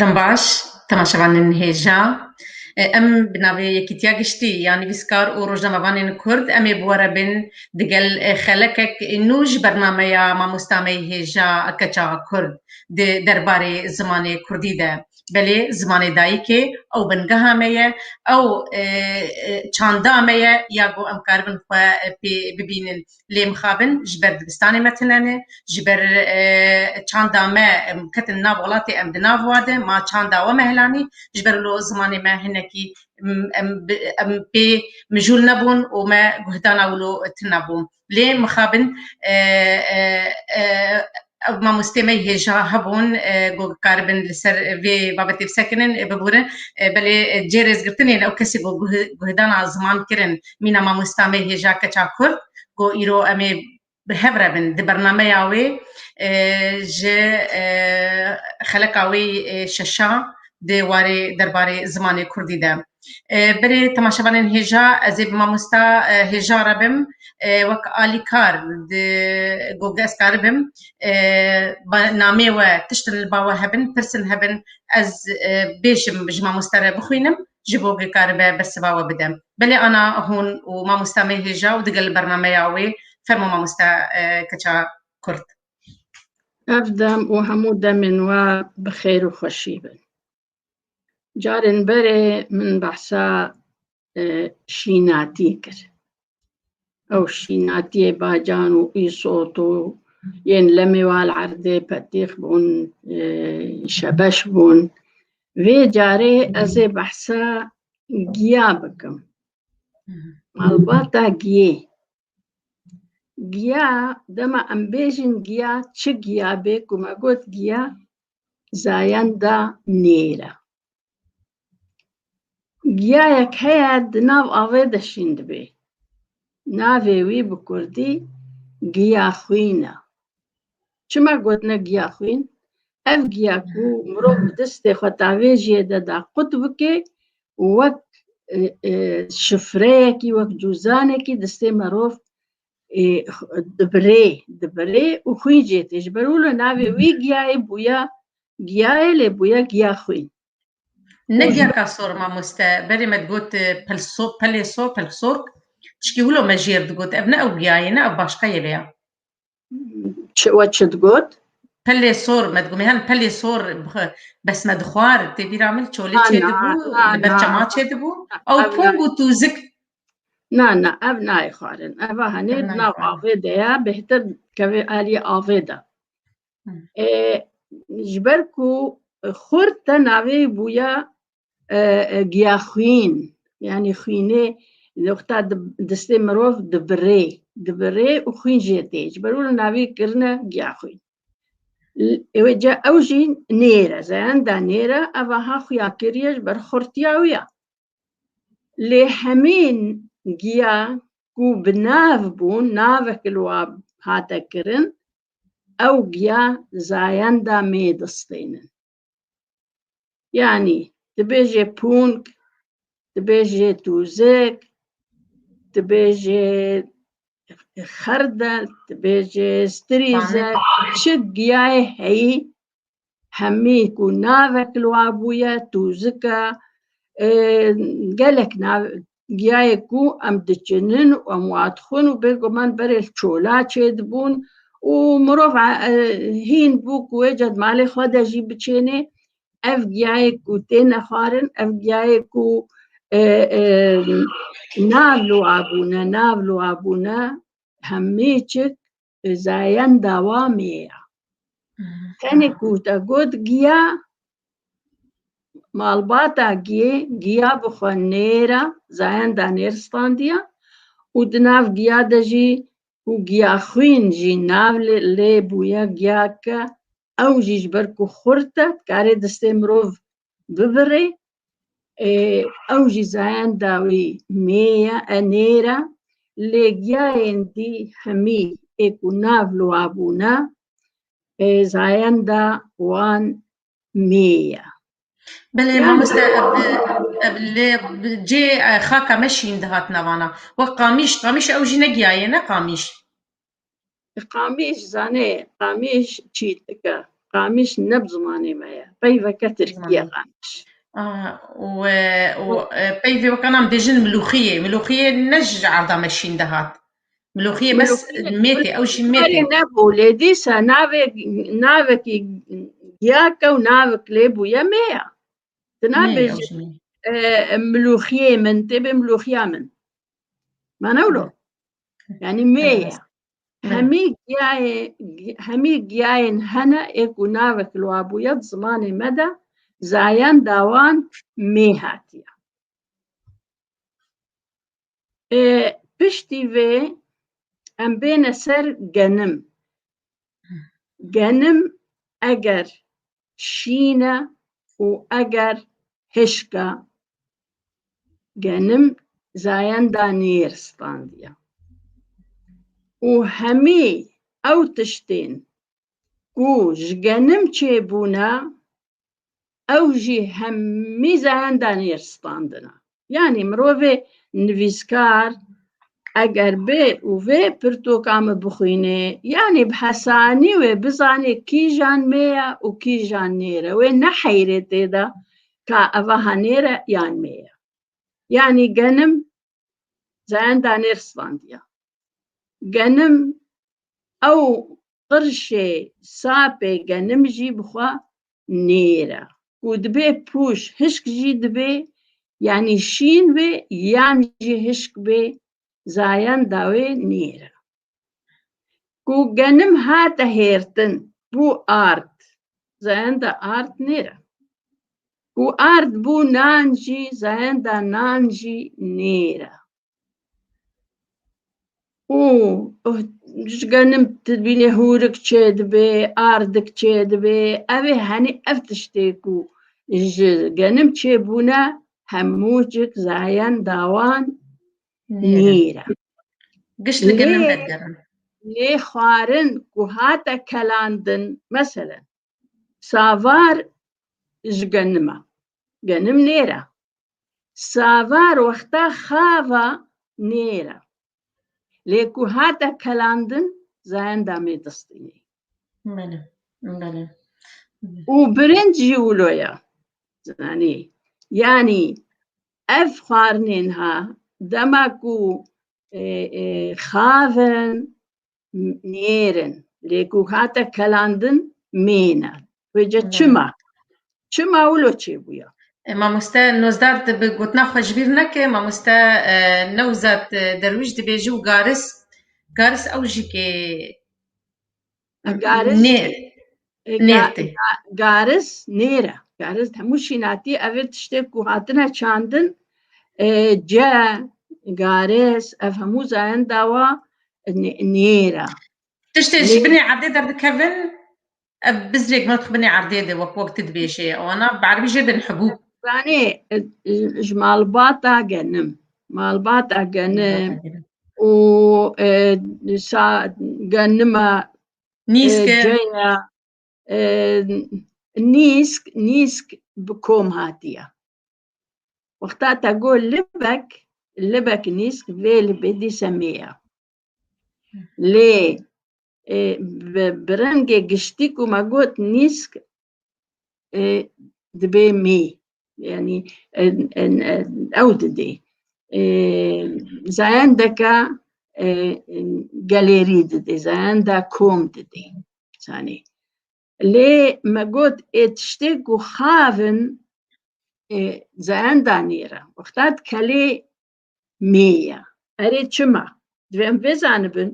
Dembaş, temaşevanên hêja em bi navê Yekîtiya Giştî ya Nivîskar û Rojnamevanên Kurd em ê bi we re bên digel xelekek nû ji bernameya Mamosta me yê Hêja Keça Kurd di derbarê zimanê Kurdî de belê zimanê dayikê ew bingeha me ye ew çanda me ye ya ku em karibin xwe pê bibînin lê mixabin ji ber dibistanê me tune ne, ji ber çanda me ketin nav welatê em di nav wade ma çanda we me helanî ji ber lo zimanê me hinekî em pê mijûl nebûn û me guhdana wilo tune bû lê mixabin Ew mamosteyê me hêja hebûn ku bikaribin li ser vê babetê bisekinin, biborin. Belê cê rêzgirtinê li ew kesî ku guhdana ziman kirin mîna mamosta me hêja keça kurd ku îro em ê bi hev re bin di bernameya wê ji xeleka wê şeşa di warê derbarê zimanê kurdî de. Berê temaşevanên hêja ez ê bi mamosta hêja re bim wek alîkar di goge ez karibim namê we tiştin li bawe hebin pirsin hebin ez bêjim ji mamosta re bixwînim ji goge karibe bersiva we bide belê ana hûn û mamosta me hêja û digel bernameya wê fermo mamosta keça kurd. Ev dem û hemû demên we bi xêr û xweşî bin. Carên berê min behsa e, şînatî kir. Ew şînatiyê bacan û îsot û yên lemê wal erdê petîx bûn, e, şebeş bûn. Vê carê ez ê behsa giya bikim. Malbata giyê. giya dema em bêjin giya çi giya bê ku me got giya zayenda nêra. Giyayek heye di nav avê de şîn dibê. Navê wî bi kurdî giya xwîn e. Çima gotine giya xwîn? Ev giya ku mirov bi distê xwe tavêjiyê de da qut bike û wek şifreyekî, wek cûzanekî distê merov dibirê, dibirê û xwîn jê tê. Ji ber wilo navê wî giyayê bûya giyayê lê bûya giya xwîn. Ne giya kasor mamoste, berê me digot pelso, pelêso, pelxsork. Tişkî wilo me jêr digot ev ne ew giyayê ne ev başqeyê vê ya. we çi digot? Pelê sor me dibû mehan pelê sor besme dixwar tê bîra min çolê çê dibû li ber çema çê dibû ew pong û tûzik Na na ev nayê xwarin eva henê nav avê de ya bêhtir kevê aliyê avê de ji ber ku xurt te navê bûya giyaxwîn yanî xwînê noxta distê mirov dibirê dibirê û xwîn jê tê ji ber wina navî kirine giyaxwîn wê ca ew jî nêre zeyanda nêre eva ha xuya kiriye ji ber xurtiya wî ya lê hemîn giya ku bi nav bûn navek li wa hate kirin ew giya zayenda mêdistênin Yanî dibêjê pûnk, dibêjê tûzik, dibêjê xerdel, dibêjê strîze, çi diyayê heyî hemî ku navek li wan bûye tûzika gelek giyayek bû em diçinin û em wadixwin û bêguman berê li çola çêdibûn û mirov hîn bû ku wê cad malê xwe de jî biçênê ev giyayek ku têne xwarin ev giyayek ku nav li wan bûne nav li wan bûne hemî çik Zayen dawamê ya. Tenê ku te got giya malbata giyê giya bi xwe nêra zayen da nêristandiya û di nav giya de jî û giya xwîn jî nav lê bûye giya ke ew jî ji ber ku xurt e dikarê distê mirov bibirê ê ew jî zayenda wî mê ye e nêra lê giyayên dî hemî ê ku nav li wa bûne ê zayenda wan mê ye. Belê mamoste ev li cê xaka me şîn dihat navana wek qamîş qamîş ew jî ne giyayê ne qamîş. Qamiş zanê, qamiş çî dike. Qamiş ne bi zimanê me ye. Peyveke tirkî ye qamiş. Ah, û e, û e, peyvê weka nam bêjin milûxiyê. Milûxiyê ne ji arda me şîn de hat. Milûxiyê bes Milûxiyê- mêtê, ew jî mêtê. Karê nebû lê dîsa navê navekî giyake û navek lê bûye mê ya. Tu Mê, ew nabêjî jî mê. e, milûxiyê min tê bê milûxiya min. Mana wilo. Yanî mê ye. Hemî giyayê hemî giyayên hene ê ku navek li wan bûye di zimanê me de zayan dawan mê hatiye. Ê, Piştî vê em bêne ser genim. Genim eger şîn e û eger hişka genim zayenda nêr standiya. Û hemî ew tiştên ku ji genim çêbûne ew jî hemî zayenda nêr standina. Yanî mirovê nivîskar eger bê û vê pirtoka min bixwînê, yanî bi hesanî wê bizanê kîjan mê ye û kîjan nêr e, wê neheyrê tê de ka ev aha nêr e yan mê ye. Yanî genim zayenda nêr sivandiya. Genim ew qirşê sapê genim jî bi xwe nêr e. Ku dibê pûş hişk jî dibê yanî şîn bê yan jî hişk bê zayan dawê nêr e. Ku genim hate hêrtin bû ard zayenda ard nêr e. Ku ard bû nan jî zayenda nan jî nêr e. û ji genim dibînê hûrik çê dibê, ardik çê dibê, ev ê henî ev tiştê ku ji genim çê bûne hemû cik zayen dawan nîr e. Giş li genim vedigerin. Lê xwarin ku hate kelandin, meselen Savar ji genim e. Genim nêr e. Savar wexta xava nêr e. Lê ku hate kelandin zayenda mê distînê. Bele, bele. Û birinc jî wilo ye. Zanî. Yanî ev xwarinên ha dema ku xavin mêrin lê ku hate kelandin mêne wêce çima çima wilo çêbûya Mamoste nozdar dibi gotina xwe ji bîr neke mamoste e, newzat e, derwîş dibêje û garis garis ew jî kê garis nê Nêrtê. Garis nêre. Garis hemû şînatî ev ê tiştê ku hatine çandin ce garis ev hemû zayin dawa nêre. Tiştê ji binê erdê derdikevin ev bizrêk mat xwe binê erdê de wek wek tu dibêjê wana bi erbî jê bin hebû. Zanê ji malbata genim malbata genim û sa genima Nîsk e. Caya e, nîsk, nîsk bi kom hatiye. Wexta te got libek, libek nîsk vê li bê dîse mê ye. Lê e, bi bi rengê giştî ku me got nîsk dibê mê yanî ew didê zayendeka gelêrî didê zayenda kom didê zanî lê me got ê tiştê ku xavin zayenda nêra wexta dikelê mê ya erê çima divê em vê zanibin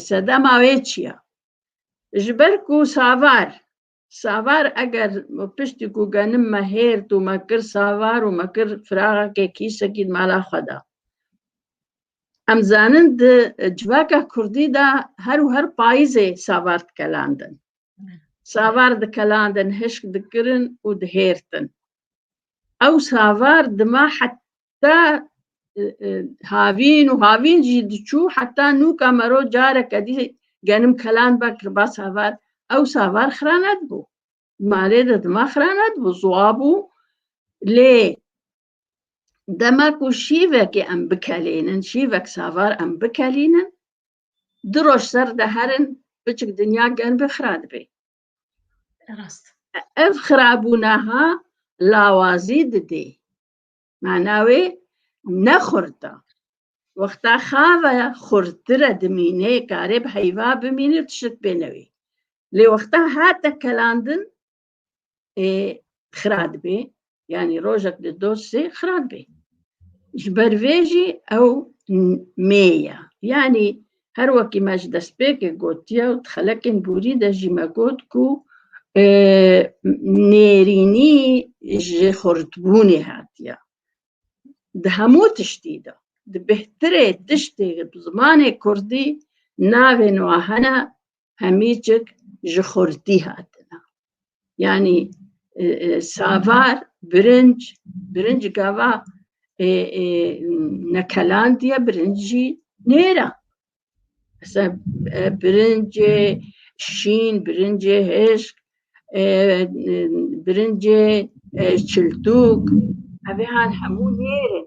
sedema wê çi ye? Ji ber ku savar savar eger piştî ku genim me hêrt û me kir savar û me kir firaxekê kîsekî di mala xwe de. Em zanin di civaka Kurdî de her û her payîzê savar dikelandin. Savar dikelandin, hişk dikirin û dihêrtin. Ew savar dima te havîn û havîn jî diçû heta nû ka mero careke dî genim kelan be kirba savar ew savar xira nedibû malê de dima xira nedibû ziwa bû lê dema ku şîvekê em bikelînin şîvek savar em bikelînin di roj ser de herin biçik dinya gen bi xira dibê ev xirabûneha lawazî didê Manawê ne xurta. Wexta xave xurtire dimînê karê bi heyva bimînê tişt bênewê. Lê wexta hate kelandin ê xira dibê. Yani rojek di dosê xira dibê. Ji ber vê jî ew mêya. Yani Her wekî me ji destpêkê gotiye û di xelekên borî de jî me got ku nêrînî ji xurtbûnê hatiye. Di hemû tiştî de di bêhtirê tiştê bi zimanê kurdî navên wan hene hemîcik ji xortî hatine. Yanî savar, birinc, birinc gava e, e, nekelandiye birincî nêra. Mesela e, birincê şîn, birincê hêşk, e, birincê e, çiltûk, evê han hemû nêrin.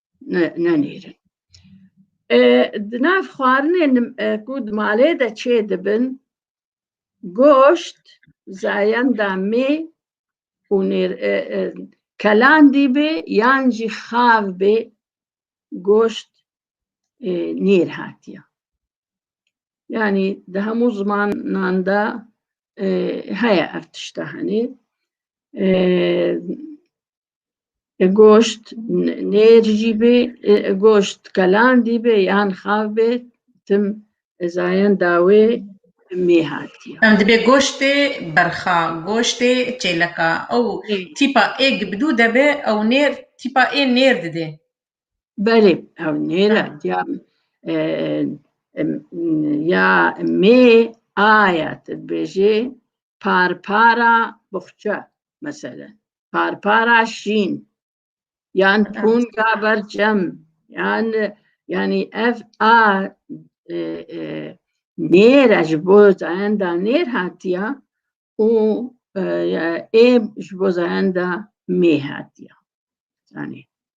nenêrin. Di nav xwarinên ku di malê de çê dibin goşt, zayenda mê û kelandî bê yan jî xav bê goşt nêr hatiye. Yani di hemû zimanan de heye ev tişta henê. goşt nêr jî bê goşt kelandî bê yan xav bê tim zayen dawê mê hatiye. Em dibê goştê berxa, goştê çêleka ew tîpa ê gibidû de be ew nêr tîpa ê nêr didê. Belê ew nêr e ya ya mê aya tu dibêjê parpara buxça meselen. parpara şîn yan punga berçem yan yani ev a e, e, nêra ji bo zayenda nêr hatiya û ê ji bo zayenda mê hatiya. Yani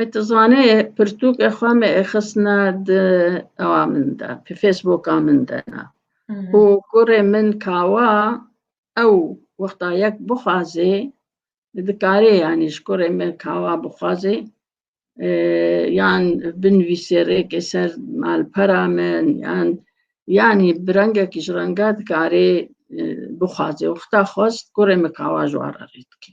E tu zanê pirtûkê xwe me ê xistine di ewa min de pê Facebooka min de ne. Û kurê min kawa ew wexta yek bixwazê dikarê yanî ji kurê min kawa bixwazê yan binivîsê rêkê ser malpera min yan yanî bi rengekî ji renga dikarê bixwazê. Wexta xwest kurê min kawa ji wan re rê dikê.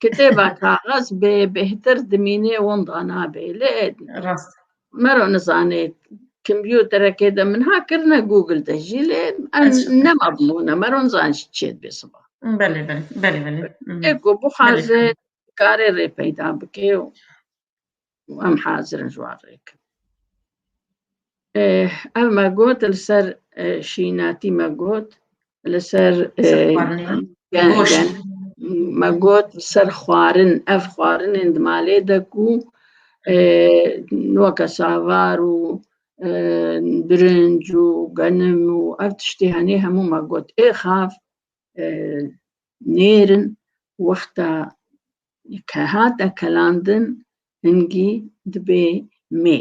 Kitêba kaxez bê bêhtir dimînê wenda nabê lê rast mero nizanê kompyuterekê de min ha kirine Google de jî lê nema bimûne mero nizan jî çê dibê siba. Belê belê belê belê. Eko bixwaze karê rê peyda bikê û û em hazir in ji wan rê bikin. Ev me got li ser şînatî me got li ser me got li ser xwarin ev xwarinên di malê de ku weke savar û birinc û genim û ev tiştê henê hemû me got ê xav nêrin wexta Ke hate kelandin hingî dibê mê.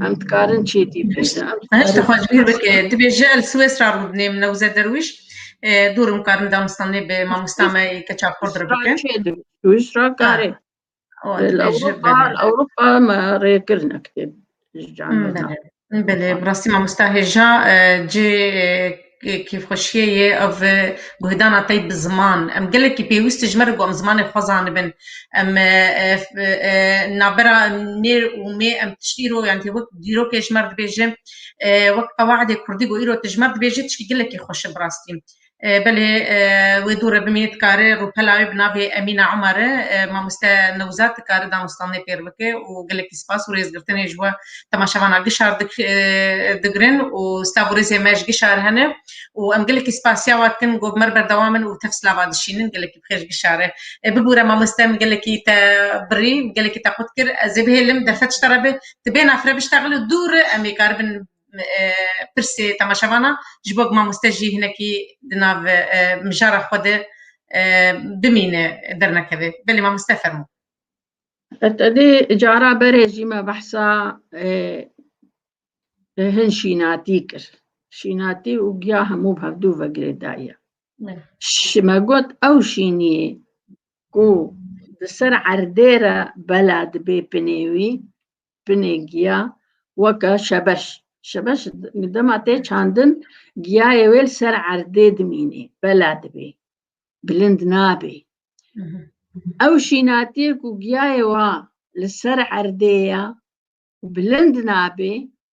Em dikarin çê dî Hişta xwe ji bîr bike. Dibê ji el Swêsra rû dinê min Newze Derwîş. Dûr im karin damistan nê bi mamosta me yê keça Kurd re bikin. Swêsra karê. Ewropa me rê kirine kitêb Belê bi rastî mamosta hêja cê kêfxweşiyê yê ev guhdana te bi ziman em gelekî pêwîst ji me re ku em zimanê xwe zanibin em navbera nê û mê em tiştî îro yan wek dîrokê ji me re dibêje wek qewedê kurdî ku îro tu ji me re dibêje tiştî gelekî xweş e bi rastî Belê wê dû re bimînî dikare rûpela wê bi navê Emîna Umar e. Mamoste Newzad dikare danûstandinê pêr bike û gelekî spas û rêzgirtinê ji we temaşevana Gişar digirin û sta bo rêzê me ji Gişar hene û em gelekî spasiya we dikin ku bi me re berdewam in û tev silava dişînin. Gelekî bi xêr ji Gişar e. Bibûre mamoste min gelekî te birî, gelekî te qut kir. Ez ê bihêlim derfet ji te re be. Tu bêhna fireb ji te xil û dûr re em ê karibin pirsê temaşevanan ji bo mamoste jî hinekî di nav mijara xwe de bimîne dernekeve. Belê mamoste fermo. Tedê cara berê jî me behsa hin şînatî kir. Şînatî û giya hemû bi hevdû ve girê daye. Ji me got ew şîniyê ku di ser erdê re bela dibê pinê wî binê giya weke şebeş. Şebeş dema tê çandin giyayê wê li ser erdê dimînê, bela dibê, bilind nabê. Ew şînatiyê ku giyayê wa li ser erdê ya û bilind nabê,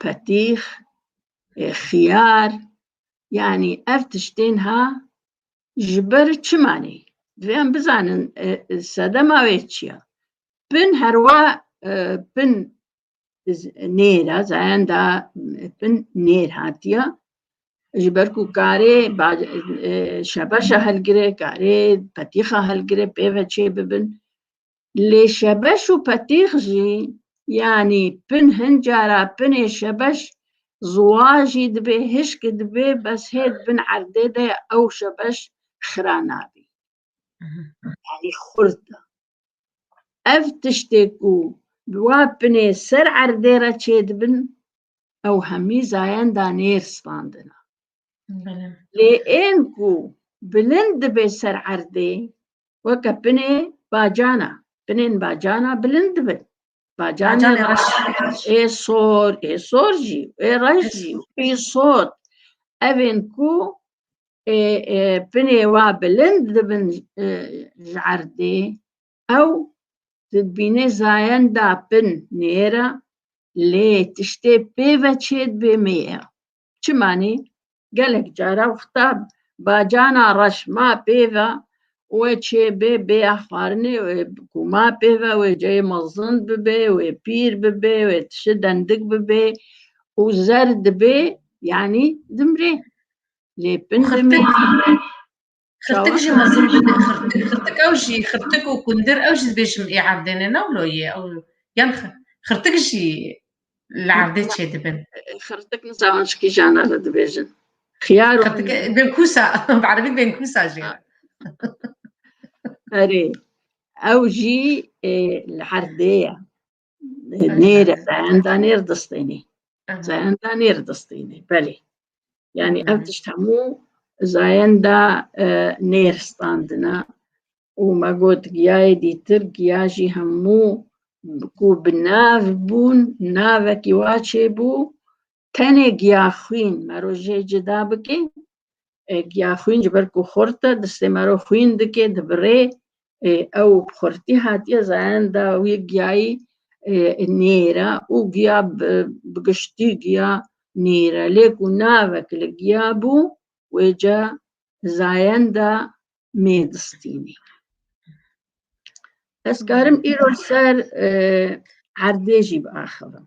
petîx, ê xiyar yanî ev tiştên ha ji ber çi manê? Divê em bizanin e, sedema wê çi ye? Pin herwa e, pin nêr e, zayenda pin nêr hatiye. Ji ber ku karê e, şebeşa helgire, karê petîxa helgire pê ve çê bibin. Lê şebeş û petîx jî yanî pin hin cara pinê şebeş ziwa jî dibê hişkî dibê bes hê di bin erdê de ew şebeş xira nabî. Yanî xurt e. Ev tiştê ku bi wa pinê ser erdê re çêdibin ew hemî zayenda nêr standina. Lê ên ku bilind dibe ser erdê weke binê bacana, binên bacana bilind dibin. Bacana ê sor, ê sor jî, ê reş jî, ê sor. Evên ku binê wa bilind dibin ji erdê Ew dibîne zayenda bin nêra lê tiştê pê ve çêdibê mêya. Çimanî gelek cara wexta bacana reş ma pê ve wê çêbê bêya xwarinê wê ku ma pê ve wê ceyê mezin bibê wê pîr bibê wê tişi dendik bibê û zer dibê yanî dimrê lê bin dimê Xirtik jî mezin bide xirtik xirtik ew jî xirtik û kundir ew jî dibêjim ê erdêne newlo yê ew yan xirtik jî li erdê çê dibin. Xirtik nisa an şikî jana li dibêjin. Xiyar û Xirtik benkusa bi erebî benkusa jî. Erê ew jî li herdê ye. Nêre zayenda nêr distênê. Zayenda nêr distênê. Belê. Yani ev tişt hemû zayenda e, nêr standina û me got giyayê dîtir giya jî hemû ku bi nav bûn navekî wa çêbû Tenê giya xwîn mero jê cida bikê, e, giya xwîn ji ber ku xurt e, distê mero xwîn dikê, dibirê, e, ew bi xurtî hatiye zayenda wî giyayî e, nêr e û giya bi giştî giya nêr e. Lê ku navek li giya bû, wê ca zayenda mê distînê. Ez karim îro li ser e, erdê jî biaxivim.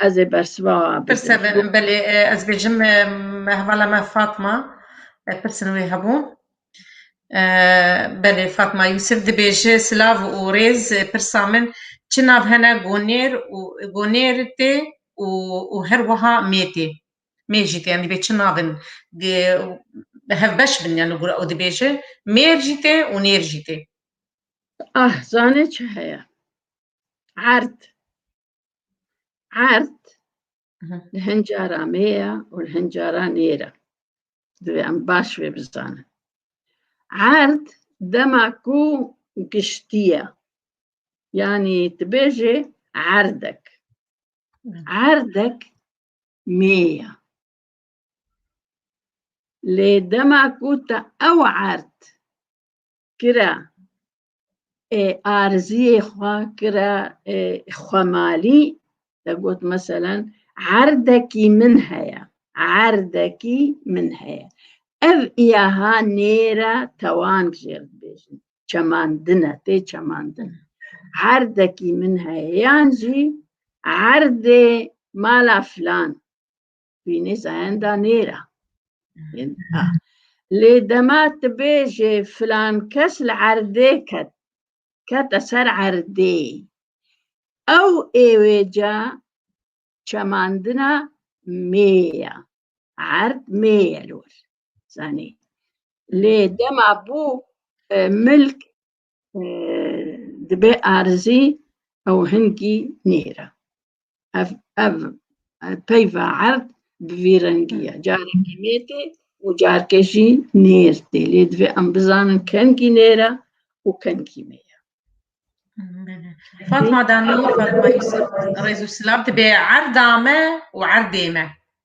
Ez ê bersiva Pirse bidim. be- belê e, ez bêjim e, me hevala me Fatma e, pirsin wê hebû. E, belê Fatma Yusuf dibêje silav û rêz e, pirsa min çi nav hene gonêr û gonêr tê û û her wiha mê tê. Mê jî tê yani dibê çi nav in di bi hev beş bin yani gura û dibêje mêr jî tê û nêr jî tê. Ah zanê çi heye. Erd. Erd li hin cara me ye û li hin cara nêre. Divê em baş vê bizanin. Erd dema ku giştî ye. Yanî tu bêjê erdek. Erdek mê ye. Lê dema ku te ew erd kira arziyê xwe kire xwemalî te got meselen erdekî min heye erdekî min heye ev îyaha nêre tewan jêr dibêjin çemandine tê çemandin erdekî min heye yan jî erdê mala filan wînê zayenda nêra lê dema tu bêjê filan kes li erdê ket kete ser erdê ew êwêca çemandina mêya erd mêye lor zanî lê dema bû milk dibe arzî ew hingî nêra. Ev ev peyva erd bi vî rengî ye. Carekî mêtê û carke jî nêr tê. Lê divê em bizanin kengî nêra û kengî mê ye. Fatma Danur, Fatma Yusuf, Rêz û Silav dibe erda me û erdê me.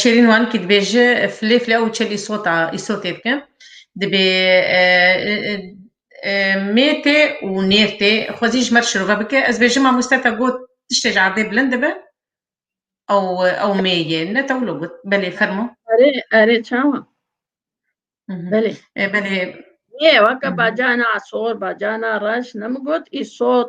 Şêrîn Wankî dibêje filê filê ew çelî sota îsotê dike dibê mêtê û nêrtê xwezî ji me re şirove bike ez bêjim mamoste te got tiştê ji erdê bilind dibe ew ew mêyê ne te wilo got belê fermo erê erê çawa belê belê Yê weke bacana sor bacana reş ne min got îsot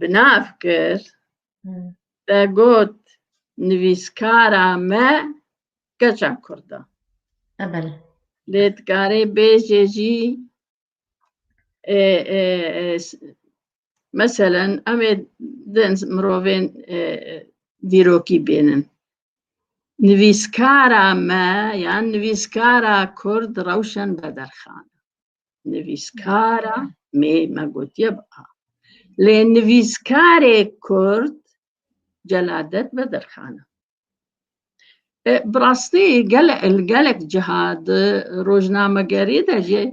binav kir te got nivîskara me keça kurd e Ebele. lê dikarê bêjê jî e, e, e, s- meselen em ê din mirovên e, e, dîrokî bênin nivîskara me yan nivîskara kurd rewşen bederxan nivîskara mê me gotiye bi a. Lê nivîskarê Kurd celadet vedirxana. E, bi rastî gele li gelek ciha di rojnamegerî de jî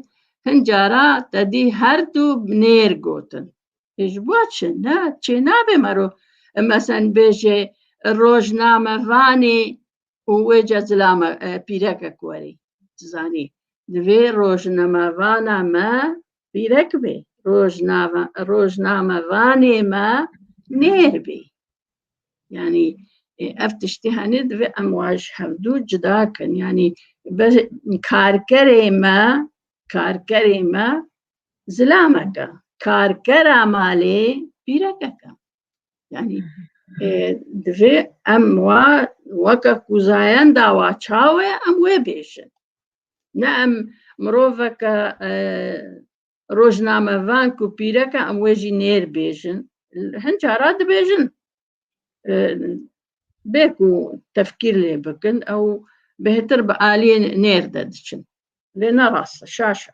hin cara te dî her du nêr gotin. E, ji bo çi ne çê nabê mero e, mesen bêjê rojnamevanê û wê ca zilame pîrekek werî tu zanî divê rojnamevana me pîrek bê rojnamevanê me nêr bê yanî ev tiştî henê divê em waj hevdû cida kin yanî karkerê me karkerê me zilameke karkera malê pîrekeke yani divê em wa weke ku zayen dawa çawe em wê bêjin ne em miroveke rojnamevan ku pîreke em wê jî nêr bêjin hin cara dibêjin bê ku tefkîr lê bikin ew bêhtir bi aliyê nêr de diçin lê ne rast şaşa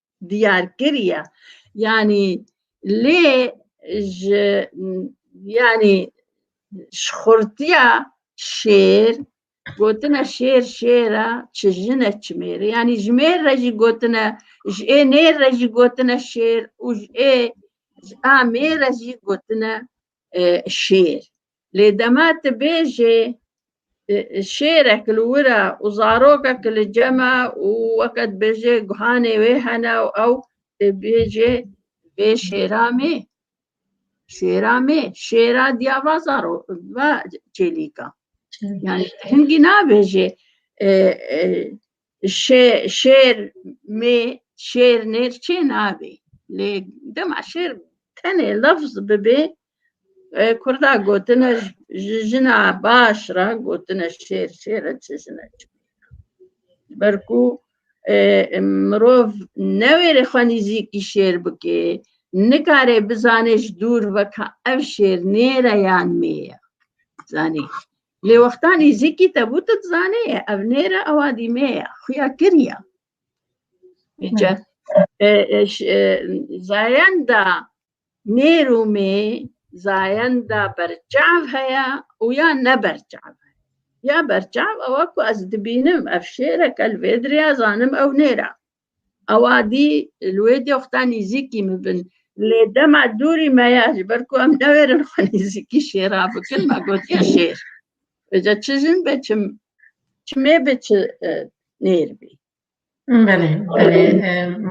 diyar kiriye yanî lê ji yanî ji xurtiya şêr gotine şêr şêra çi jine çimêre yanî ji mêr re jî gotine ji ê nêr re jî gotine şêr û ji ê ji a mêr re jî gotine şêr. Lê dema tu bêjê şêrek li wir e û zarokek li cem e û weke dibêjê guhanê wê hene û ew dê bêjê vê şêra mê, şêra mê, şêra diya va zaro va çêlîka. Yani hingî nabêjê شێر mê şêr nêr çê nabê lê dema şêr tenê lafz bibê kurda gotine ji jina baş re gotine şêr şêr e çi jine çi ber ku mirov newêrê xwe nîzîkî şêr bikê nikarê bizanê ji dûr ve ka ev şêr nêr e yan mê ye zanî Lê wexta nêzîkî tebû tu dizanê ye ev nêre ewa dîmê ye xuya kiriya. Nêce zayenda nêr û mê zayenda berçav heye û ya ne berçav heye. Ya berçav ewa ku ez dibînim ev şêreke li vê diriya zanim ew nêra. Ewa dî li wê doxta nîzîkî min bin. Lê dema dûrî me ya ji ber ku em newêrin xwe nîzîkî şêra bikin me gotiye şêr. Êca çi jin be çi çi mê be çi nêr bî. Belê belê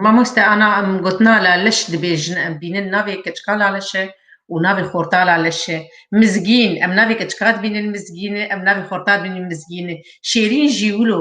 mamoste ana em gotina la leş dibêjin em bînin navê keçika la leş e û navê xorta la leş e. Mizgîn em navê keçika dibînin mizgîn e em navê xorta dibînin mizgîn e. Şêrîn jî wilo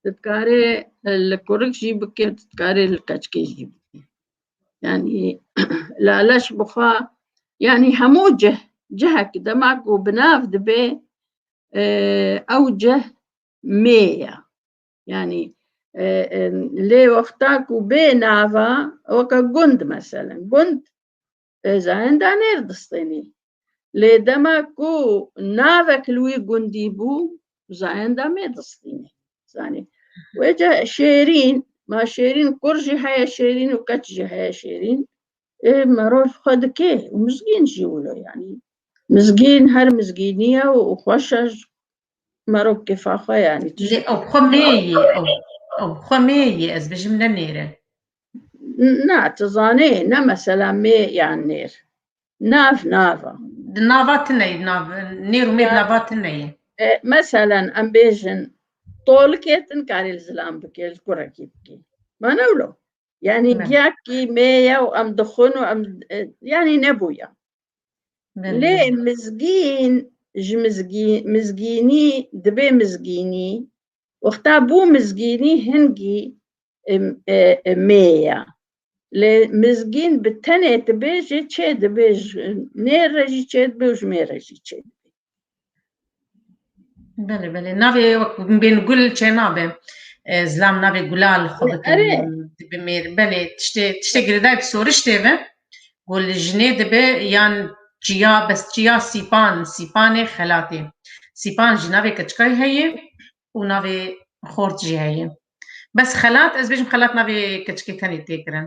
Tu dikarê li kurik jî bikê tu dikarê li keçkê jî bikê. Yanî laleş bixwe yanî hemû cih cihek dema ku bi nav dibê ew cih mê ye. Yanî lê wexta ku bê nava weke gund meselem gund Pêzayen da nêr distênî. Lê dema ku navek li wî gundî bû zayen da mê distînî. Zanî. Wê ca şêrîn, ma şêrîn kur jî heye şêrîn û keç jî heye şêrîn. Ê meror xwe dikê û mizgîn jî wilo yanî. Mizgîn her mizgîniye û xweş e Merok kefa xwe yani. Lê ew xwe mêyî ew ew xwe mêyî ez bijim ne nêre. Na tu zanê ne mesela mê yan nêr. Nav nava. Di nava tineyî nav nêr û mêr nava tineyî. E, meselen em bêjin tolikê din karê li zilam bikê li kurekî bikê. Mana wilo. Yani Ne. giyakî mêye û em dixwin û em e, yani nebûya. Lê mizgîn ji mizgînî dibe mizgînî, wexta bû mizgînî hingî mê ye. Lê mizgîn bi tenê dibe jê çêdibe ji nê re jî çêdibe û ji mê re jî çêdibe. Belê belê navê bên gul çê nabe zilam navê gulal xwe dibi mêr belê tiştê tiştê girêdayê bi soriştê ve ku li jinê dibe yan çiya bes çiya sîpan sîpanê xelatê sîpan jî navê keçikayî heye û navê xort jî heye bes xelat ez bêjim xelat navê keçikê tenê tê kirin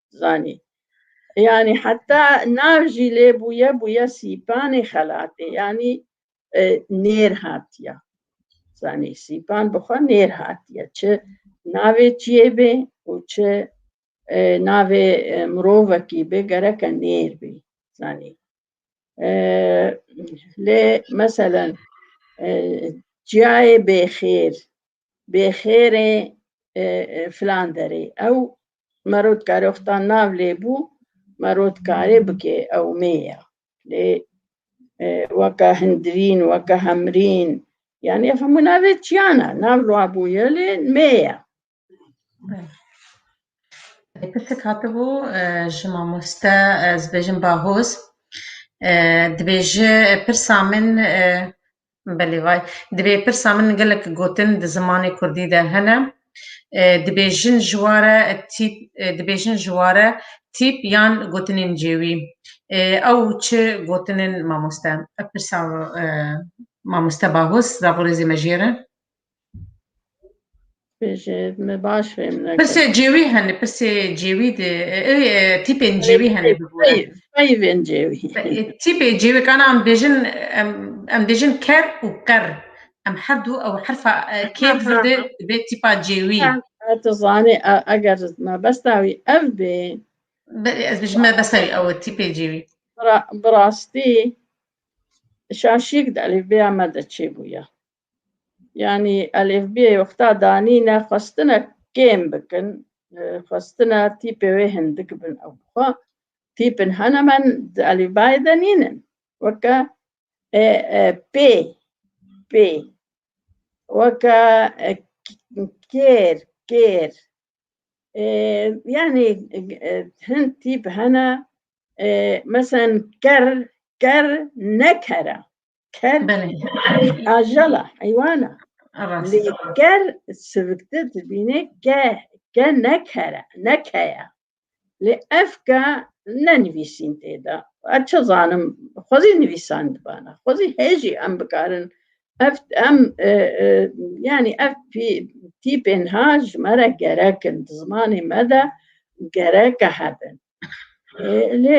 zanî. Yanî heta nav jî lê bûye bûye sîpanê xelatê yanî e, nêr hatiye. Zanî sîpan bi xwe nêr hatiye. Çi navê çiyê bê û çi e, navê e, mirovekî bê gereke nêr bê. Zanî. E, lê meselen e, çiyayê bêxêr bêxêrê filan derê ew merotka roxta nav lêbû merotkarê bikê ew mêya lê weka hindirîn weka hemrîn yani ev hemû navê çiyana nav lûa bûye lê mêya Pirsek hatibû ji mamoste ez bêjim bahoz dibêje pirsa min Belê vay. Divê pirsa min gelek gotin di zimanê kurdî de hene. Dibê jin ji ware tîp dibê jin ji ware tîp yan gotinên cêwî. Ew çi gotinên mamoste? Ev pirsa mamoste Bahûs, ravorêzê me jê re. Bêje me baş fêm ne. Pirsê cêwî hene, pirsê cêwî de ê tîpên cêwî hene bi bo. Peyvên cêwî. Tîpê cêwî kana em bêjin em em bêjin ker û qer. Em her du ew herfa kêt verde dibê tîpa cêwî. Tu zanî eger me besta wî ev bê. Ez bêjim me besta wî ew tîpê cêwî. Bi rastî şaşîk de elîfbeya me de çêbûye. yani elêfbiyê wexta danîne xwestine kêm bikin xwestine tîpê wê hindik bin ew xwe tîpin hene men di elîfbayê de nînin weke e, e, pê pê weke e, kêr kêr e, yani e, hin tîp hene e, mesen ker ker nekere ker Belê. ajala heywana Rast. lê ker siviktir dibîne ke ke ne kere ne keye lê ev ke ne nivîsîn tê de ez çi zanim xwezî nivîsan dibana xwezî hêjî em bikarin ev em e, e, yanî ev pî- tîpên ha ji me re gerek in di zimanê me de gereke hebin lê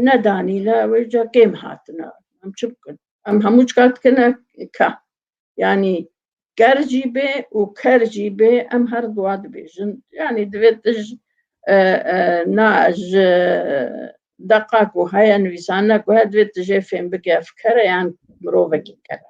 nedanî la wê ca kêm hatina em çi bikin em hemû çika dikine ka yanî ker jî bê û ker jî bê em her duwa dibêjin yanî divê tij na ji deqa ku heye nivîsane ku he divê tijê fêm bike fikere yan mirovekî kere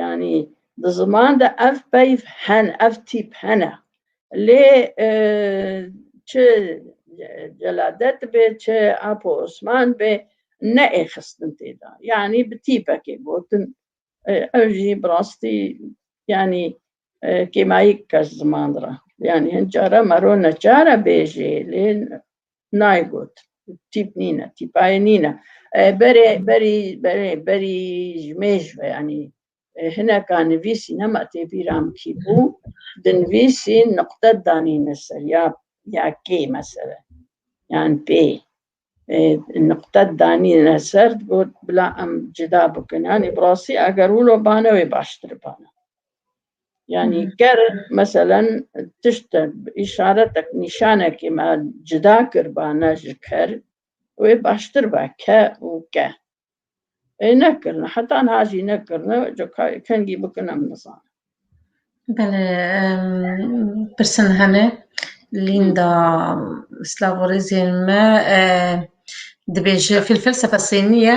Yanî di ziman de ev peyv hene, ev tîp hene. Lê çi Celadet bê, çi Apo Osman bê ne ê xistin tê de. Yanî bi tîpekê gotin. Ew jî bi rastî yanî kêmayî kes ziman re. Yanî hin care mero neçare bêjê lê nayê got. Tîp nîne, tîpayê nîne. Berê berî berê berî ji mêj ve yanî hineka nivîsî nema tê bîra min kî bû di nivîsî nuqte danîne ser ya ya kê mesele yan pê nuqte danîne ser got bila em cida bikin yanî bi rastî eger wilo bane wê baştir bana. Yani ger meselen tişt işaretek nîşanekî me cida kiribane ji ker wê baştir be ke û ke. Ê nekirine heta niha jî nekirine ca kengî bikin em nizanin. Bele pirsin hene Linda Slavorêzên me dibêje fîlfelsefe sêniye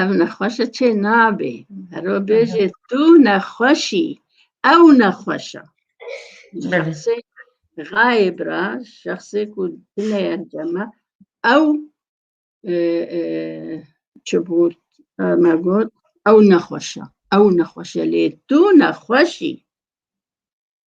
Ev nexweşe çê nabê. Hero bêjê tu nexweşî. Ew nexweşa. Şexsê gayê bira, şexsê ku dine encama ew çi bû me got ew nexweşa. Ew nexweşe lê tu nexweşî.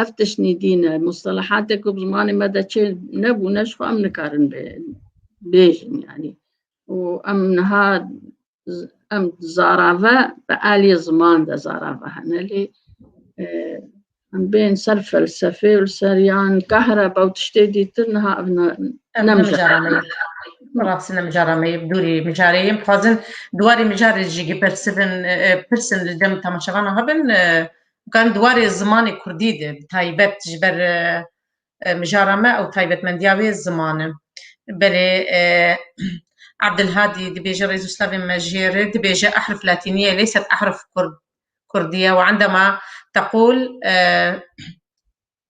Ev tiştî dîn e. Mustelehatê ku bi zimanê me de çê nebûne ji xwe em nikarin bêjin yanî. û em niha em zarave bi aliyê ziman de zarave hene lê em bên ser felsefê û ser yan kahreba û tiştê dîtir niha ev nemijara Rastî nemijara me dûrî mijareyê em dixwazin duwarê mijarê jî gipirsivin pirsin li dem temaşevanan hebin Kan di warê zimanê kurdî de bi taybet ji ber mijara me û taybetmendiya wê ziman e. Berê Abdulhadî dibêje rêz û slavên me jê re dibêje ehrif latînî ye lê sed ehrif kurdî ye û endama teqûl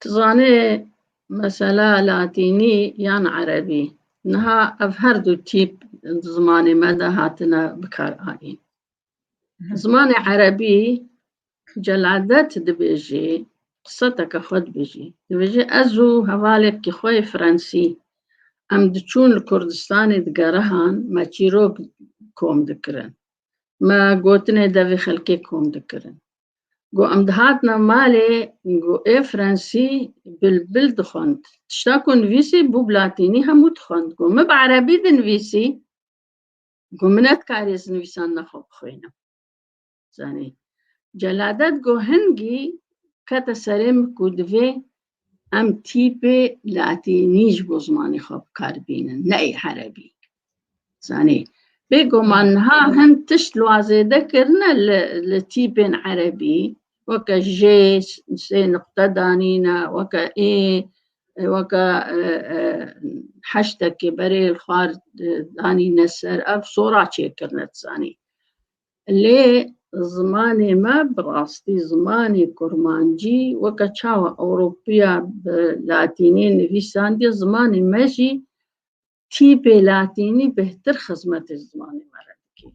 Tu zanê mesela latînî yan erebî niha ev her du tîp di zimanê me de hatine bikaranîn. Zimanê erebî celadet dibêjî qisateke xwe dibêjî. Dibêjî ez û hevalêkî xwe yê Fransî em diçûn li Kurdistanê di gerihan me çîrok kom dikirin. Me gotinê devê xelkê kom dikirin. Got em dihatina malê got ê fransî bilbil dixwend. Tişta ku nivîsî bû bi latînî hemû dixwend. Got min bi erebî dinivîsî got min nedkarî ez nivîsandina xwe bixwînim. Zanî. Celadet got hingî kete serê min ku divê Em tîpê latînî ji bo zimanê xwe bikaribînin, neyê erebî. Zanî, bêguman niha hin tişt li wan zêde kirine li li tîpên erebî, weke jê, sê nuqte danîne, weke ê, weke heştekê berê li xwar danîne ser, ev sora çêkirine, tu zanî. Lê zimanê me bi rastî zimanê kurmancî weke çawa ewropiya bi latînî nivîsandiye zimanê me jî tîpê latînî bêhtir xizmetê zimanê me re dike.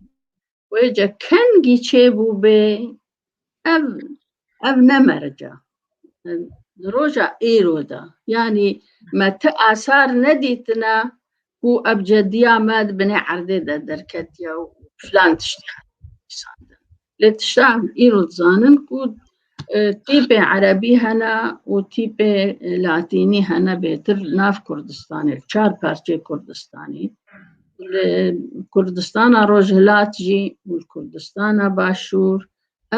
Wê ce kengî çêbûbê Ev ev ne merca. Di roja êro de yanî me ti asar nedîtine ku ev cediya me di binê erdê de derketiye û filan tiştî hesandin. Lê tişta em îro dizanin ku e, tîpê erebî hene û tîpê latînî hene bêtir nav Kurdistanê, çar parçeyê Kurdistanê. li Kurdistana Rojhilat jî û li Kurdistana Başûr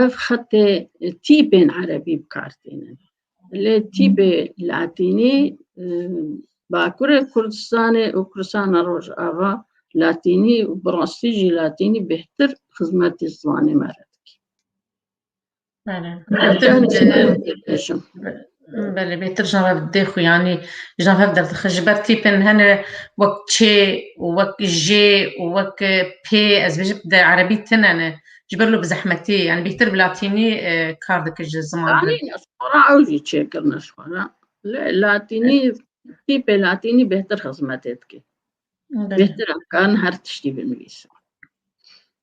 ev xetê tîpên erebî bikar tînin. Lê tîpê latînî Bakurê Kurdistanê û Kurdistana Rojava latînî û bi rastî jî latînî bêhtir xizmetê zimanê me re dike. Belê bêtir ji nav dê xwe yanî ji nav hev derdixin ji ber tîpên hene wek çê û wek jê û wek pê ez bêjim di erebî tine ne ji ber bi zehmetî yanî bêtir bi latînî kar dike ji ziman ew jî çêkirine ji xwe re lê latînî tîpê latînî bêtir xizmetê dike bêtir em karin her tiştî binivîsin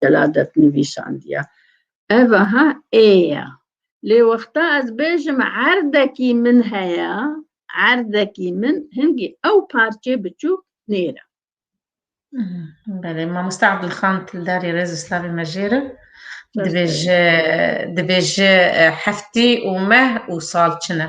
deladet nivîsandiya. Ev aha ê ya. Lê wexta ez bêjim erdekî min heye, erdekî min hingî ew parçê biçûk nêra. Belê, mamoste Abdulxan Tildarî Rêz û Slavê me jêr e. Dibêje dibêje heftî û meh û sal çin e.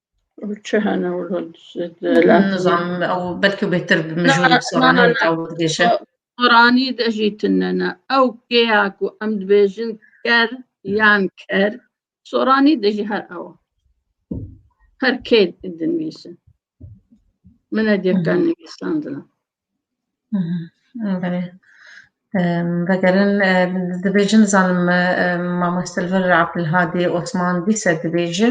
Çi hene wilo nizanim ew belkî bêtir bi min jû soranê ew dibêje. Soranî de jî tinene ew kêya ku em dibêjin ker yan ker soranî de jî her ew her kê dinivîsin. Min e dêkan nivîsandina. Belê. Vegerin dibêjin dizanim mamoste li vir Abdulhadî Osman dîse dibêje.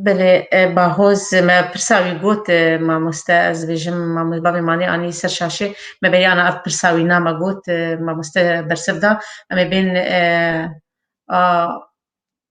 Belê bahoz me pirsa wî got mamoste ez dibêjim bavê Manê anî ser şaşê me bêyana ev pirsa wî na me got mamoste bersiv da em ê bên a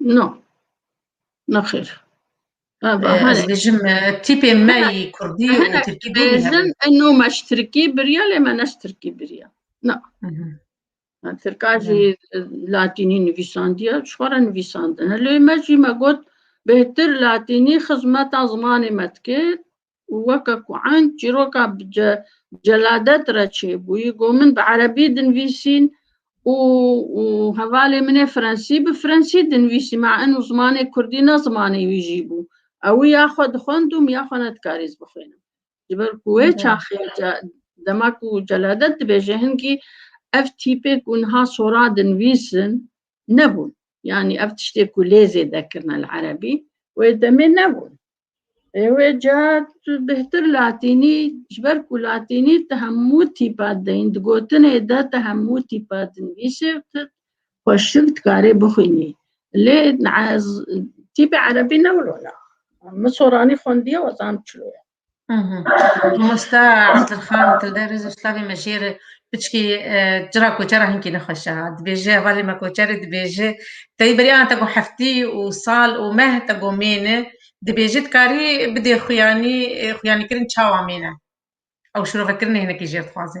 No. Nexir. Ez dijim tîpê me yî Kurdî û Tirkî bêjin eno me ji Tirkî biriya lê me ne ji Tirkî biriya. Na. Tirka jî Latînî nivîsandiya ji xwe re nivîsandine. Lê me jî me got bêhtir Latînî xizmeta zimanê me dike û weke ku eng çîroka bi celadet re çêbûyî got min bi erebî dinvîsîn û hevalê min ê frensî bi frensî dinvîsî ma eno zimanê kurdî ne zimanê wî jî bû ewî ya xwe dixwendûm ya xwe ne dikarî ez bixwînim ji ber ku wê çaxê dema ku celadet dibêje hingî ev tîpê ku niha sora dinvîsin nebûn yanî ev tiştê ku lê zêde kirine li erebî wê demê nebûn Wê ca tu bêhtir latînî ji ber ku latînî ti hemû tîpa deyîn di gotinê de ti hemû tîpa dinivîsê û ti xweştir dikarê bixwînî. Lê tîpê erebî ne wilo ne. Min soranî xwendiye we zanim çilo ye. Mamoste Adilxan Tilderîz Uslavê me jê re Piçkî cira koçer a hinkî nexweş e. Dibêje hevalê me koçerê dibêje teyî berî ana te ku heftî û sal û meh te ku mêne dibêje dikarî bidê xuyanî xuyanîkirin çawa mêne. Ew şirovekirinê hinekî jêr dixwaze.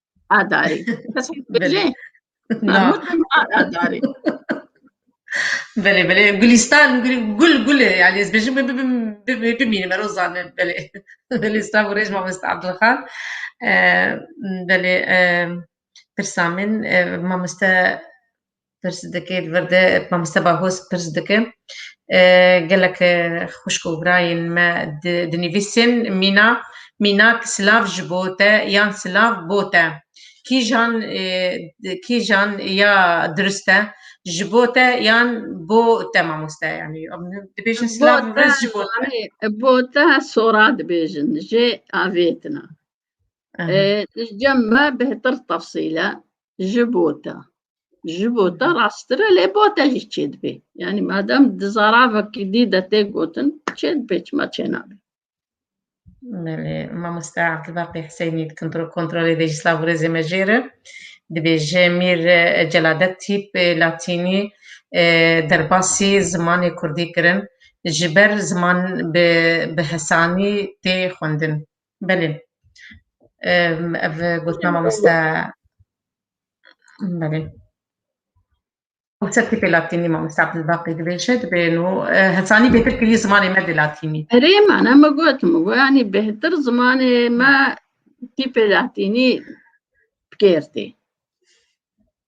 Adarî. Kes hîn bêje. Adarî. Belê belê Gulistan gul gul e yani ez bêjim bimînim ero zanim belê belê İstanbul rêj mamesta Abdulxan belê pirsa min mameste Pirs dike li vir de mamoste Bahoz pirs dike gelek xwişk û birayên me dinivîsîn mîna mînak silav ji bo te yan silav bo te kîjan kîjan ya dirust e ji bo te yan bo te mamoste yanî dibêjin silav riz ji bo te bo te sora dibêjin jê avêtina cem me bêhtir tefsîle ji bo te. Ji bo te rasttir e lê bo te jî çê dibê. Yanî madem di zaravekî dî de tê gotin çê dibê çima çê nabe. Belê, mamoste Abdulbaqî Hüseynî kontrol kontrolê de jî slav û rêzê me jêr e. Dibêje mîr e, celadet tîp e, latînî e, derbasî zimanê kurdî kirin. Ji ber ziman bi bi hesanî tê xwendin. Belê. Ev gotina mamoste belê. Konseptê pê latînî mamoste Abdulbaqî dibêje dibê nû hesanî bêtir kirî zimanê me dê latînî. Erê man em gotim û yanî bêhtir zimanê me tîpê latînî bigêrtê.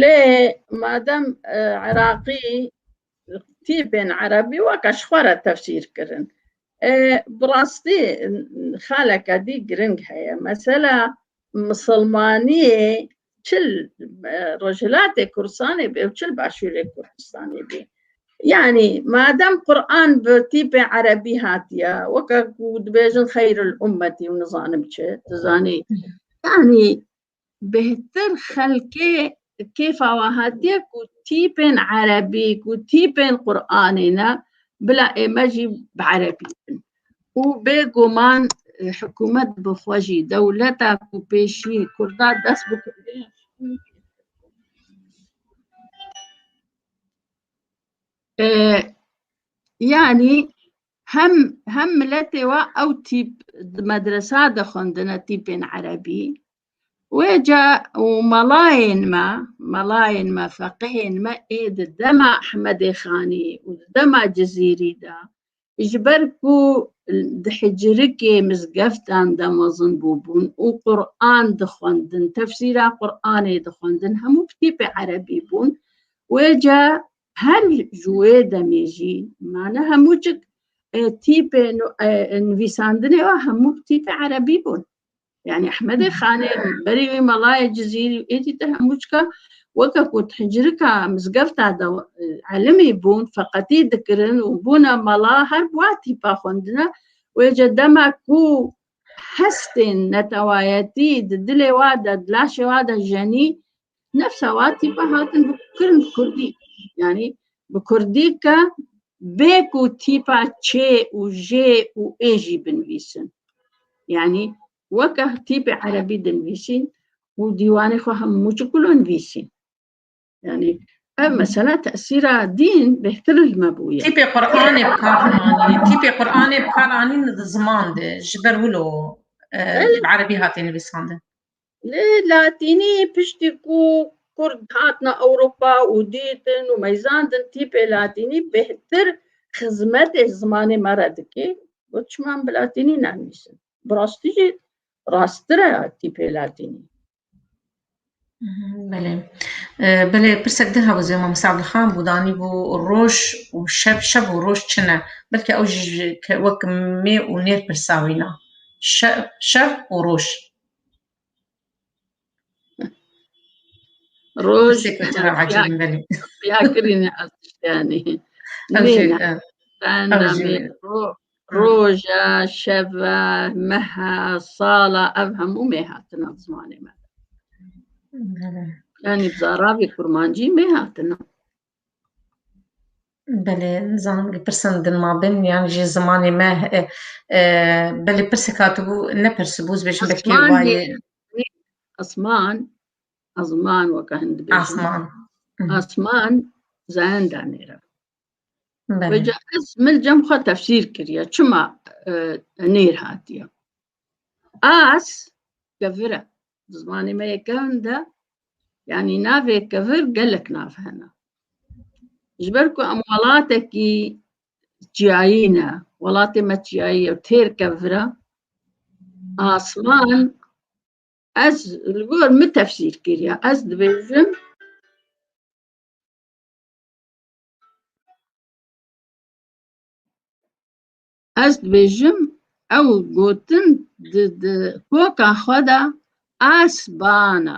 Lê madem Iraqî tîpên Erebî weke ji xwe re tefsîr kirin, ê bi rastî xaleke dî giring heye. Mesela misilmaniyê çil Rojhilatê Kurdistanê bê û çil Başûrê Kurdistanê bê. Yanî madem Quran bi tîpê Erebî hatiye, weke ku dibêjin xeyril ummetî û nizanim çi, tu zanî yanî bêhtir xelkê kêfa wan hatiye ku tîpên erebî ku tîpên Qur'anê ne bila ême jî bi erebî bin û bêguman hikûmet bi xwe jî dewleta ku pêşî kurda dest bi yanî Hem hem miletê we ew tîp di medresa de xwendine tîpên erebî. Wê ca û melayên me, melayên me, feqihên me ê di dema Ehmedê Xanî û di dema Cizîrî de ji ber ku di hicirikê mizgeftan de mezin bûbûn û Quran dixwendin, tefsîra Quranê dixwendin hemû bi tîpê erebî bûn. Wê ca her ji wê demê jî mane hemû çik tîpê nivîsandinê wa hemû tîpê erebî bûn yani Ehmedê Xanê berî wî melayê Cizîrî êdî te hemû çika weke ku hicirika mizgefta de elimî bûn feqetî dikirin û bûna mela her wa tîpa xwendina wê ce dema ku hestên netewayetî di dilê wa de di laşê wa de jenî Nefşawa tîpa hatin bi kirin bi kurdî. Yanî bi kurdî ke bê ku tîpa çê û jê û ê jî binivîsin. Yanî weke tîpê erebî dinivîsîn û dîwanê xwe hemû ji kulo nivîsîn. Yanî ev mesela tesîra dîn bêhtir li me bûye. Tîpê Quranê bi kar anî, tîpê Quranê bi kar anîn di ziman de ji ber wilo e, bi erebî hatê nivîsandin. Li Latînî piştî ku Kurd hatina Ewropa û dîtin û meyzandin tîpê Latînî bêhtir xizmetê zimanê me re dike. Got çima em bi Latînî nenivîsin? Bi rastî jî rasttir e tîpê Latînî. Belê. Belê pirsek din hebû zê Mamosta Abdulxan bû danî bû roj û şev şev û roj çi ne. Belkî ew jî wek mê û nêr pirsa wîna. Şev şev û roj. Roj ya kirîne yani. Roja, şeva, meha, sala ev hemû mê hatina zimanê me. Yani zaravê kurmancî mê hatina. Belê nizanim li pirsan din mabin yan jî zimanê me e, e, belê pirsek hatibû nepirsibû ez bêjim belkî Asman wayê diye. Asman, azman weka hin dibêjin. asman. Asman zayenda nêra. Belê. Veca ez mil cem xwe tefsîr kiriye. Çima e, nêr hatiye? As kevir e. Di zimanê me yê kevn de yanî navê kevir gelek nav hene. Ji ber ku em welatekî çiyayî ne, welatê me çiyayî ye têr kevir e. Asman ez li gor min tefsîr kiriye. Ez dibêjim ez dibêjim ew gotin di di koka xwe de as bana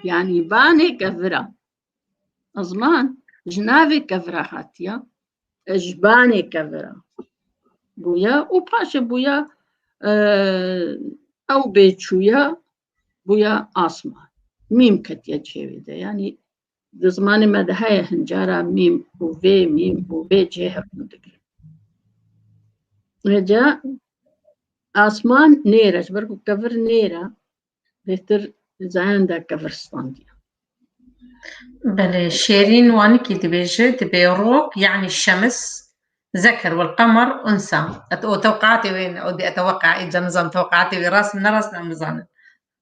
yanî banê kevira ziman ji navê kevira hatiya ji banê kevira bûya û paşê bûya ew bêçûya bûya asman mîm ketiye çêwê de yanî Di zimanê me de heye hin cara mîm û vê mîm û vê cê hevûn dikirin. Hêca asman nêr e ji ber ku kevir nêr e bêtir zayan de kevir standiye. Belê şêrîn wanikî dibêje dibê rok yanî şemis zeker wal qemar unsa. Et o tewqatê wê ne o dê e tewqaî ca nizan tewqatê wê rast ne rast ne nizanin.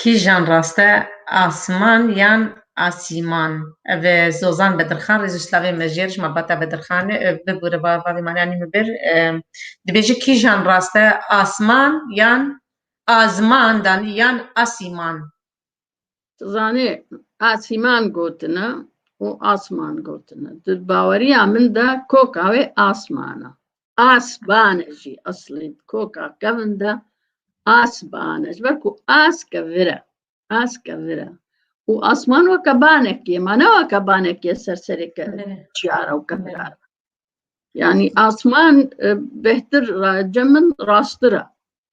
Kîjan rast e, Asiman yan Asîman? Ev Zozan Bedirxan rê ji slavên mejiyê ji malbata Bedirxan e. Ev bibûre va va vê maneya nîm bi bir. Dibêje kîjan rast e, Asiman yan Aziman danî yan Asîman? Tu zanî Asîman gotine û Asiman gotine. Di baweriya min de koka wê Asiman e. Asbane jî eslî di koka kevin de asbane ji ber ku aske vir e aske vir e û asman weke banekî ye ma ne weke banekî ye ser serê ke çiyara û kevirar e. yanî asman e, bêhtir ra- cem min rastir e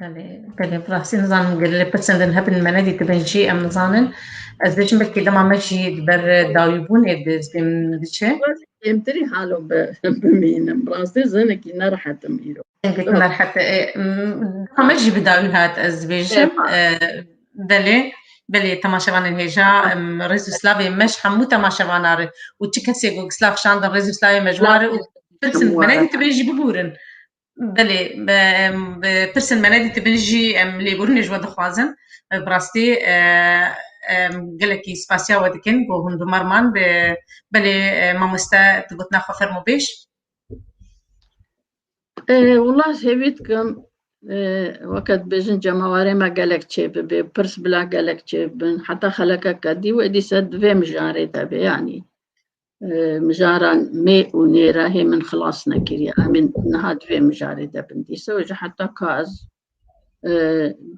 Belê, belê, bi rastî nizanim gelê lê pirsên din hebin me nedîtibin jî em nizanin. Ez dê jin belkî dema me jî di ber dawîbûnê di zibên min diçe. Kêmtirî halo bi bimînim. Bi rastî zinekî nerehet im îro. Zinekî nerehet e. Dema me jî bi dawî hat ez dibêjim. Belê, belê temaşevanên hêja rêz û slavê me ji hemû temaşevanan re û çi kesê ku slav şandin rêz û slavê me ji wan re û pirsin me nedîtibin jî bibûrin. Belê, pirsên me nedîtibin jî em lêborînê ji we dixwazin. Bi rastî em gelekî spasiya we dikin ku hundirmar man. Belê mamoste tu gotina xwe fermo bêj. Wila hêvî dikim weke dibêjin cemawarê me gelek çêbibê, pirs bila gelek çêbibin. Heta xelekeke dî wê dîsa di vê mijarê de be yanî. mijaran mê û nê re hê min xilas nekiriye em ê niha di vê mijarê de bin dîsa ji heta ka ez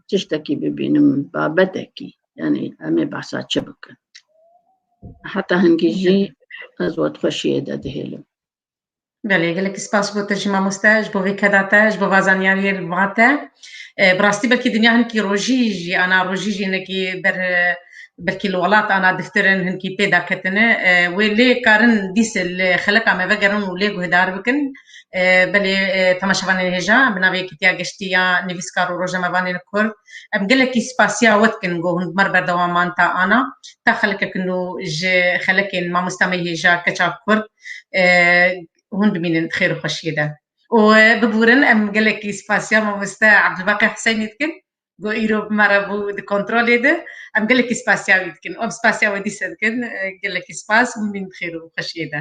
tiştekî bibînim babetekî yanî em ê behsa çi bikin heta hingî jî ez we xweşiyê de dihêlim Belê gelekî spas bo te jî mamoste ji bo vê keda te ji bo va zanyariyê li va te. Bi rastî belkî dinya hinkî rojî jî ana rojî jî hinekî ber belkî li welat ana diftirin hinkî pê daketine. Wê lê karin dîs li xeleka me vegerin û lê guhdar bikin. Belê temaşevanên hêja bi navê Yekîtiya Geştî ya Nivîskar û Rojnamevanên Kurd Em gelekî spasiya we dikin ku hûn bi me re berdewam man ta ana, ta xelkek nû ji xelekên mamosta me hêja keça kurd hûn bimînin di xêr û xweşiyê de. Û biburin em gelekî spasiya mamoste Abdulbaqi Huseynî dikin ku îro bi me re bû di kontrolê de. Em gelekî spasiya wî dikin û em spasiya we dîsa dikin. Gelekî spas, hûn bimînin di xêr û xweşiyê de.